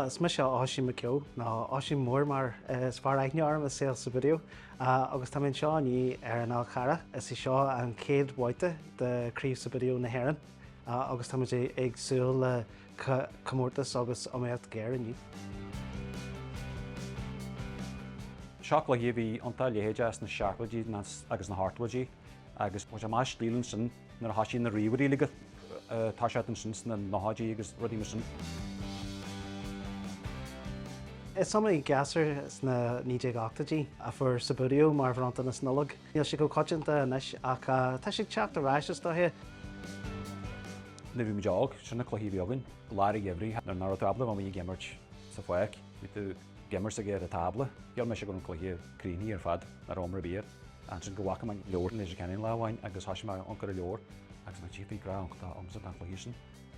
Is mise Oisín Mac Eo, nó Oisín Mór mar is fearr aithne orm i saol Subbuteo, agus tá mé anseo inniu ar an Fhál Carrach. Is í seo an chéad bhabhta de Craobh Subbuteo na hÉireann agus táimid ag súil le comórtas agus iomaíocht ghéar inniu. Seo cluiche a bhí iontach leitheadach sna seachtóidí agus na hochtóidí, agus chuaigh sé amach as stíl ansin. Nuair a thosaigh na ríomhairí uilig ag teacht isteach ansin sna 90idí agus rudaí mar sin. Is iomaí gasúr sna 1980idí a fuair Subbuteo mar bhronntanas Nollag. Níl sé chomh coitianta anois ach tá sé ag teacht ar ais is dóiche. Nuair a bhí muid óg, sin na cluichí a bhí againn. Lár an gheimhridh nuair nach raibh tú ábalta a bheith amuigh ag imirt sa pháirc, bhí tú ag imirt sacair ar an tábla. Shíl mise go raibh an cluiche críochnaithe ar fad, nach raibh iomrá ar bith air. ansin go bhfaca mé an leabhar i Leitir Ceanainn lá amháin agus thoisigh mé ag amharc ar an leabhar agus bhí grá iontach agamsa don chluiche sin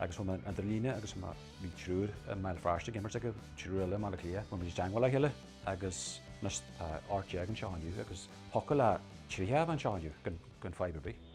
agus chuaigh mé ar an idirlíon agus mar bhí triúr i mBéal Feirste ag imirt agus triúr eile i mBaile Átha Cliath, bhí muid i dteagmháil le chéile agus anois tá ocht déag anseo inniu agus thiocfadh le tríocha a bheith anseo inniu gan fadhb ar bith.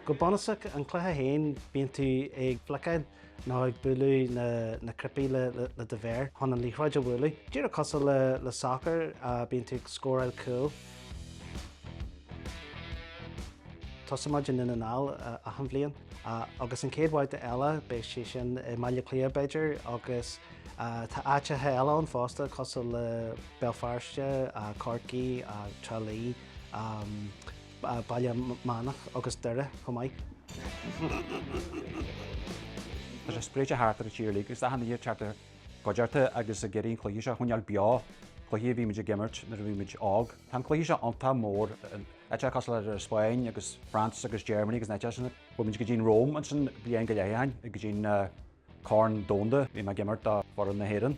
Go bunúsach, an cluiche féin, bíonn tú ag fliceáil nó ag bualadh na cnaipí le do mhéar chun an liathróid a bhualadh. Díreach cosúil le sacar, bíonn tú ag scóráil cúl. Tosaíonn muid i nDún na nGall achan bhliain agus an chéad bhabhta eile beidh sé sin i mBaile Átha Cliath b'fhéidir agus Tá áiteacha eile ann fosta cosúil le Béal Feirste, Corcaigh, Trá Lí, Baile Meánach agus Doire chomh maith. Tá sé spréite thart ar an tír uilig agus tá daoine ag teacht i gcuideachta agus ag iarraidh an cluiche seo a choinneáil beo, cluichí a bhí muid ag imirt nuair a bhí muid óg. Tá an cluiche seo iontach mór, áiteacha cosúil le Spain agus France agus Germany agus na háiteacha sin. Chuaigh muid go dtí an Róimh ansin bliain go leith ó shin, go dtí an. Corn Domhanda, bhí mé ag imirt do fhoireann na hÉireann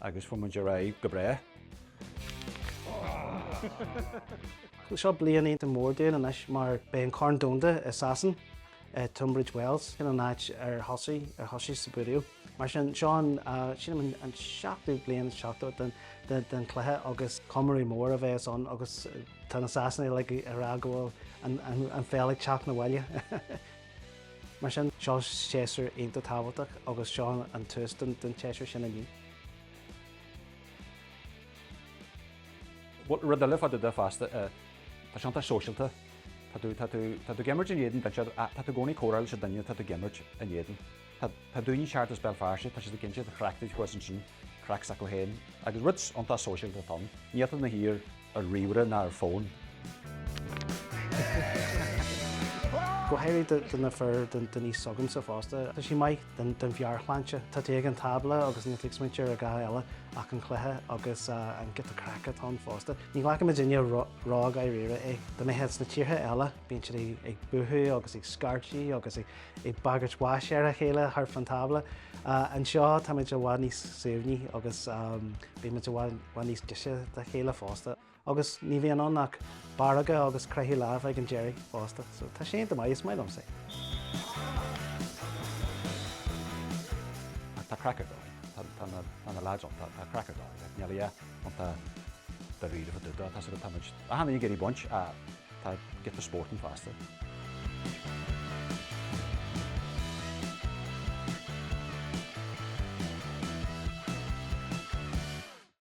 agus fuair muid ar aghaidh go breá. Seo bliain iontach mór dúinn anois mar beidh an Corn Domhanda i Sasain, i Tunbridge Wells, sin an áit ar thosaigh Subbuteo. Mar sin, seo sílim an seachtú bliain is seachtó den chluiche agus comóradh mór a bheas ann agus tá na Sasanaigh ag rá go bhfuil an pheil ag teacht na bhaile. Mar sin, seo séasúr iontach tábhachtach agus seo an tús don tséasúr sin inniu. Bhuel, rud eile fá dtaobh de fosta, tá sé iontach sóisialta. Tá tú, tá tú, tá tú ag imirt in éadan, tá tú i gcónaí ag comhrá leis an duine atá tú ag imirt in éadan. Tá, tá daoine ag teacht as Béal Feirste, tá siad ag insint a chleachtaí chugaibhsan sin. Craic s'acu féin agus rud iontach sóisialta atá ann, níl tú i do shuí ar ríomhaire ná ar fhón. Go háirithe do na fir, den aois s'agamsa fosta. Tá sí maith don mheabhairshláinte. Tá tú ag an tábla agus níl tú ag smaointe ar a dhath eile ach an cluiche agus an giota craice atá ann fosta. Ní ghlacann muidinne ródháiríre é. Tá mé ag rá sna tíortha eile bíonn siad ag búitheadh agus ag scairtigh agus ag ag bagairt bháis ar a chéile thart fán tábla. Anseo táimid i bhfad níos suaimhní agus bímid i bhfad níos deise dá chéile fosta. Agus ní bhíonn ann ach baracáil agus croitheadh láimhe ag an deireadh fosta. So tá sé iontach maith, is maith liomsa é. Ach tá craic ar dóigh ann. Tá na lads iontach. Tá craic ar dóigh ann. Níl siad iontach dáiríre fá dtaobh de. Tá siad ag, táimid, achan duine ag iarraidh baint ach. Tá giota spóirt ann fosta.